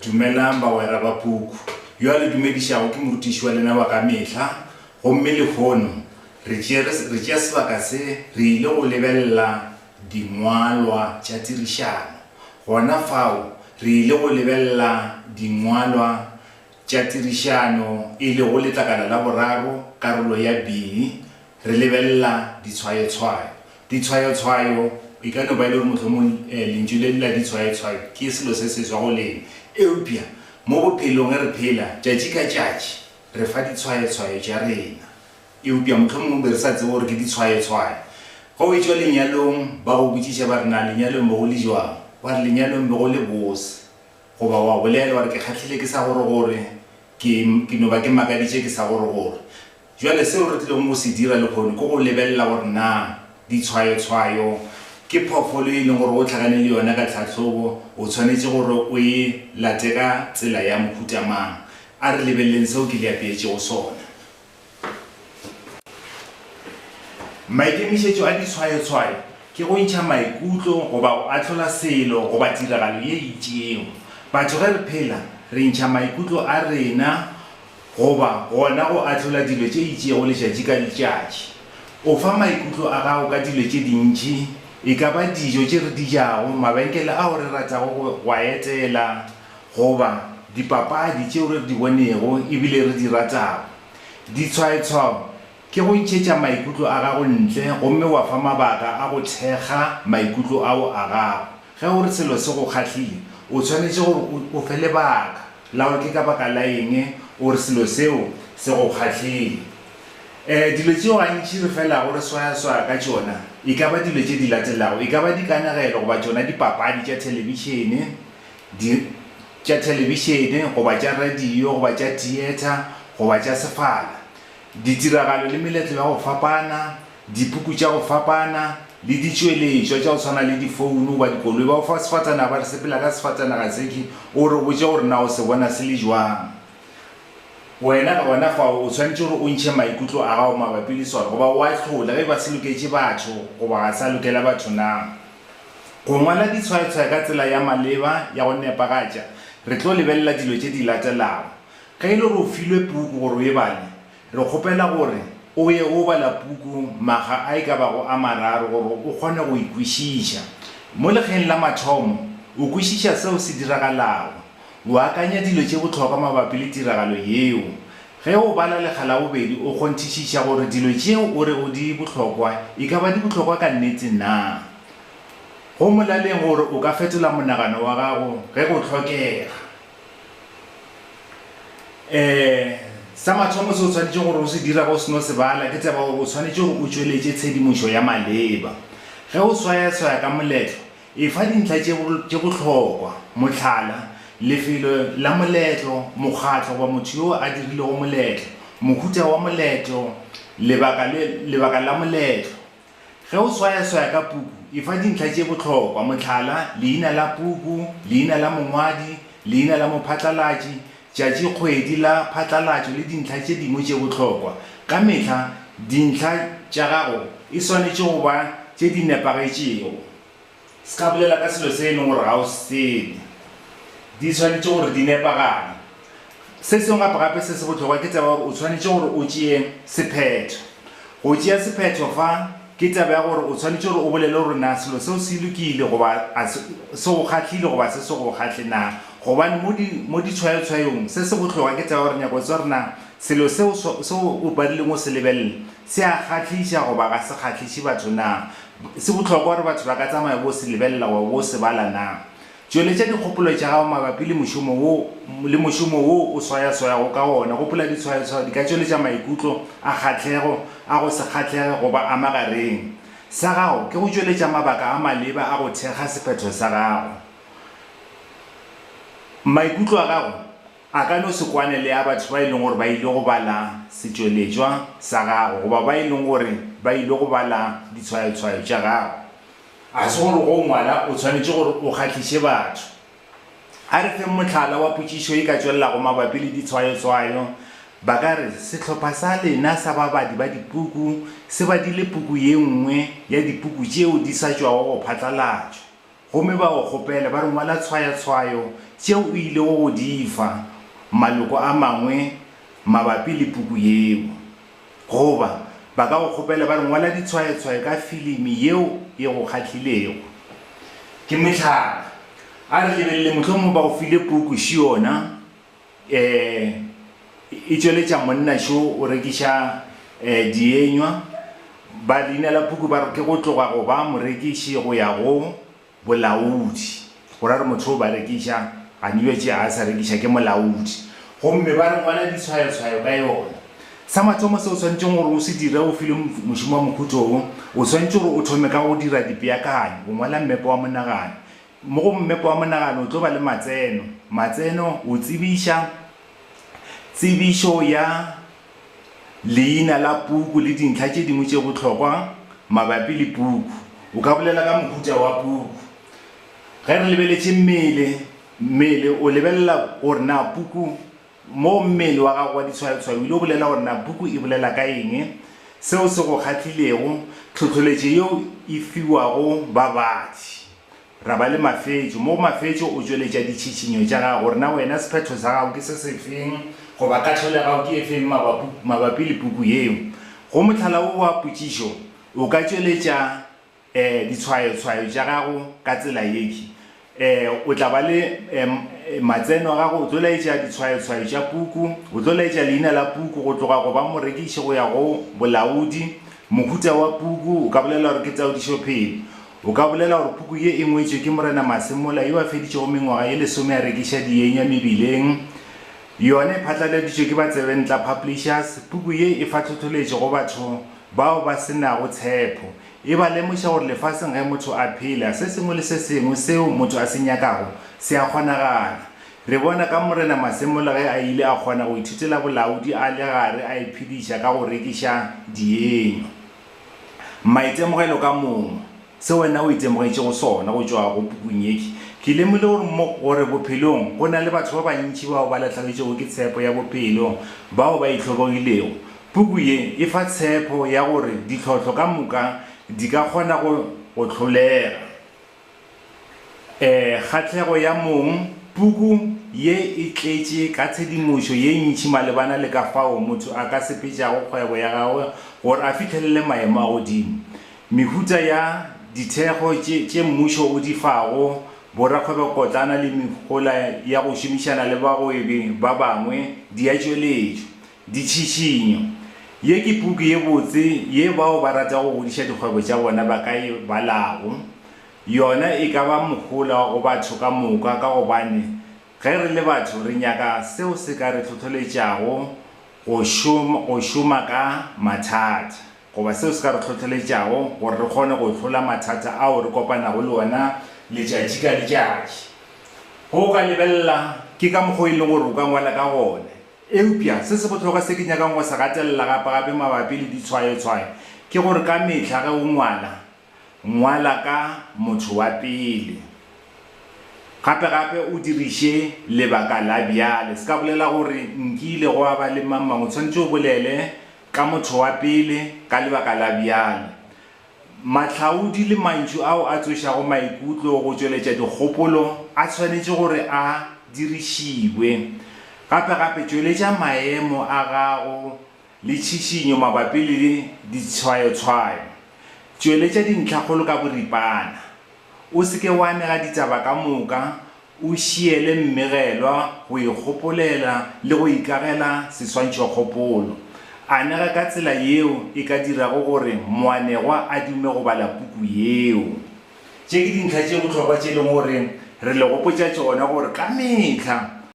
Dumelang bagwera ba puku. Yo a le dumedišago ke morutiši wa lena wa ka mehla, gomme lehono re tšere, re tšea sebaka se re ile go lebelela Dingwalwa tša Tirišano. Gona fao re ile go lebelela Dingwalwa Tša tirišano e le go letlakala la boraro, karolo ya bini, re lebelela ditshwayotshwayo. Ditshwayotshwayo, e ka no ba e le gore mohlomong lentšu le la ditshwayotshwayo ke selo se seswa go lena, eupša mo bophelong ge re phela tšatši ka tšatši re fa ditshwayotshwayo tša rena, eupša mohlomong o be re sa tsebe gore ke ditshwayotshwayo. Ge o e-tšwa lenyalong, ba go botšiša ba re, Na lenyalong be go le bjang? Wa re, Lenyalong be go le bose. Goba wa bolela, wa re, Ke kgahlile ke sa gore-gore, ke, ke no ba ke makaditše ke sa gore-gore. Bjale seo re tlilego go se dira lehono ke go lebelela gore na ditshwayotshwayo ke phoofolo ye e leng gore o hlakane le yona ka tlhahlobo, o swanetše gore o e late ka tsela ya mohuta mang. A re lebeleleng seo ke le apeetšego sona. Maikemišetšo a ditshwayotshwayo ke go ntšha maikutlo goba go ahlola selo goba tiragalo ye itšego. Batho ge re phela, re ntšha maikutlo a rena goba gona go ahlola dilo tše itšego letšatši ka letšatši. O fa maikutlo a gago ka dilo tše dintši, e ka ba dijo tše re di jago, mabenkele ao re ratago go a etela, goba dipapadi tšeo re di bonego e bile re di ratago. Ditshwaetshwao ke go ntšhetša maikutlo a gago ntle gomme wa fa mabaka a go thekga maikutlo ao a gago. Ge o re selo se go kgahlile, o swanetše gore o fe lebaka la gore ke ka baka la eng o re selo seo se go kgahlile. Dilo tšeo gantši re felago re swayaswaya ka tšona e ka ba dilo tše di latelago, e ka ba dikanegelo goba tšona dipapadi tša thelebišene, di tša thelebišene goba tša radio goba tša theatre goba tša sefala, ditiragalo le meletlo ya go fapana, dipuku tša go fapana, le ditšweletšwa tša go swana le difounu goba dikoloi. Ba go fa sefatanaga ba re sepela ka sefatanaga sefe, o re botše gore na o se bona se le jwang. Wena gona fao o swanetše gore o ntšhe maikutlo a gago mabapi le sona goba o ahlole ge e ba se loketše batho goba ga sa lokela batho na. Go ngwala ditshwayatshwaya ka tsela ya maleba ya go nepagatša, re tlo lebelela dilo tše di latelago. Ge e le gore o filwe puku gore o e bale, re kgopela gore o ye o bala puku makga a e ka bago a mararo gore o kgone go e kwešiša. Mo lekgeng la mathomo, o kwešiša seo se diragalago. O akanya dilo tše bohlokwa mabapi le tiragalo yeo. Ge o bala lekga la bobedi o kgonthišiša gore dilo tšeo o rego di bohlokwa e ka ba di bohlokwa ka nnete naa. Go molaleng gore o ka fetola monagano wa gago ge go hlokega. Ee, sa mathomo se o swanetše gore o se dira ge o seno se bala ke tseba gore o swanetše gore o tšweletše tshedimošo ya maleba. Ge o swayaswaya ka moletlo, Efa dintlha tše bohlokwa, mohlala, lefelo la moletlo, mokgatlo goba motho yo a dirilego moletlo, mohuta wa moletlo, lebaka, lebaka la moletlo. Ge o swayaswaya ka puku, efa dintlha tše bohlokwa, mohlala, leina la puku, leina la mongwadi, leina la mophatlalatši, tšatšikgwedi la phatlalatšo le dintlha tše dingwe tše bohlokwa. Ka mehla dintlha tša gago e swanetše go ba tše di nepagetšego. Se ka bolela ka selo se e leng gore ga o se tsebe. Di swanetše gore di nepagale. Se sengwe gape-gape se se bohlokwa ke taba ya gore o swanetše gore o tšee sephetho. Go tšea sephetho fa. Ke taba ya gore o swanetše gore o bolele gore na selo seo se lokile goba a se, se go kgahlile goba se se go kgahle na. Gobane mo di, mo ditshwayotshwayong, se se bohloka ke taba ya gore nyaka go tseba gore na selo seo so, seo o badileng o se lebelele se a kgahliša goba ga se kgahliše batho na. Se bohlokwa gore batho ba ka tsamaya bo se lebelela goba bo se bala na. Tšweletša dikgopolo tša gago mabapi le mošomo wo le mošomo wo o swayaswayago ka wona. Gopola, ditshwayotshwayo di ka tšweletša maikutlo a kgahlego, a go se kgahlege goba a magareng. Sa gago ke go tšweletša mabaka a maleba a go thekga sephetho sa gago. Maikutlo a gago a ka no se kwane le a batho ba e lego gore ba ile go bala setšweletšwa sa gago goba ba e lego gore ba ile go bala ditshwayotshwayo tša gago. Ga se gore go ngwala o tshwanetše gore o kgahliše batho. A re feng mohlala wa potšišo e ka tšwelelago mabapi le ditshwayotshwayo. Ba ka re, Sehlopha sa lena sa babadi ba dipuku se badile puku ye nngwe ya dipuku tšeo di sa tšwago go phatlalatšwa, gomme ba go kgopela ba re ngwala tshwayatshwayo tšeo o ilego go di fa maloko a mangwe mabapi le puku yeo. Goba ba ka go kgopela ba re, Ngwala ditshwayotshwayo ka filimi yeo e go kgahlilego. Ke mohlala, a re lebelele mohlomongwe ba go file puku Šiona e e tšweletša monna šo o rekiša dienywa. Ba leinela puku ba re, Ke go tloga go ba morekiši go ya go Bolaodi, go ra re motho yo ba rekiša, gani yo tšea a sa rekiša ke molaodi. Gomme ba re ngwala ditshwayotshwayo ka yona. Sa mathomo seo o swanetšeng gore o se dire o filwe mošomo wa mohuto wo, o swanetše gore o thome ka go dira dipeakanyo, go ngwala mmepe wa monagano. Mo go mmepe wa monagano o tlo ba le matseno, matseno, o tsebiša, tsebišo ya. leina la puku le dintlha tše dingwe tše bohlokwa mabapi le puku. O ka bolela ka mohuta wa puku. Ge re lebeletše mmele, mmele o lebelela gore na puku, moo mmele wa gago wa ditshwayotshwayo o ile o bolela gore na puku e bolela ka eng, seo se go kgahlilego, tlhohloletšo yeo e fiwago babadi. Ra ba le mafetšo. Mo mafetšo o tšweletša ditšhitšhinyo tša gago gore na wena sephetho sa gago ke se sefeng goba kahlolo ya gago ke e feng mabapu, mabapi le puku ye. Go mohlala wo wa potšišo, o ka tšweletša eh, ditshwayotshwayo tša gago ka tsela ye ki, eh, o tla ba le eh, matseno a gago, o tlo laetša ditshwayotshwayo tša puku, o tlo laetša leina la puku go tloga go ba morekiši go ya go bolaodi, mohuta wa puku o ka bolela gore ke taodišophelo. O ka bolela gore puku ye e ngwetšwe ke Morena Mase mola yo a feditšego mengwaga ye lesome a rekiša dienya mebileng. Yona e phatlaladitšwe ke ba Tsebentla Publishers. Puku ye e fa tlhothletšo go batho bao ba se nago tshepo. E ba lemoša gore lefaseng ge motho a phela, se sengwe le se sengwe seo motho a se nyakago se a kgonagala. Re bona ka Morena Mase mola ge a ile a kgona go ithutela bolaodi a le gare a iphediša ka go rekiša dienya. Maitemogelo ka momo, Se wena o itemogetšego sona go tšwa go pukung ye, Ke ke lemogile gore mo, gore bophelong go na le batho ba bantši bao ba lahlagitšwego ke tshepo ya bophelo, bao ba itlhobogilego. Puku ye e fa tshepo ya gore ditlhohlo ka moka di ka kgona go go hlolega. E, kgahlego ya mong, puku ye e tletše ka tshedimošo ye ntši malebana le ka fao motho a ka sepetšago kgwebo ya gagwe gore a fihlelele maemo a godimo. Mehuta ya dithekgo tše tše mmušo o di fago borakgwebopotlana le mehola ya go šomišana le bagwebi ba bangwe di a tšweletšwa. Ditšhišinyo. Ye ke puku ye botse ye bao ba ratago go godiša dikgwebo tša bona ba ka e balago. Yona e ka ba mohola go batho ka moka ka gobane ge re le batho re nyaka seo se ka re hlohleletšago go šoma, go šoma ka mathata, goba seo se ka re hlohleletšago gore re kgone go hlola mathata ao re kopanago le ona letšatši ka letšatši. Ge o ka lebelela, ke ka mokgwa wo e lego gore o ka ngwala ka gona. Eupša se se bohlokwa se ke nyakang go se gatelela gape-gape mabapi le ditshwayotshwayo ke gore ka mehla ge o ngwala, ngwala ka motho wa pele. Gape-gape o diriše lebaka la bjale. Se ka bolela gore, Nkile gwa ba le mang-mang. O swanetše o bolele ka motho wa pele ka lebaka la bjale. Mahlaodi le mantšu ao a tsošago maikutlo go tšweletša dikgopolo a swanetše gore a dirišiwe. Gape-gape, tšweletša maemo a gago le tšhišinyo mabapi le ditshwayotshwayo. Tšweletša dintlhakgolo ka boripana. O se ke wa anega ditaba ka moka O šiele mmegelwa go ikgopolela le go ikagela seswantšhokgopolo. Anega ka tsela yeo e ka dirago gore moanegwa a dume go bala puku yeo. Tše ke dintlha tše bohlokwa tše e lego gore re le gopotša tšona gore ka mehla,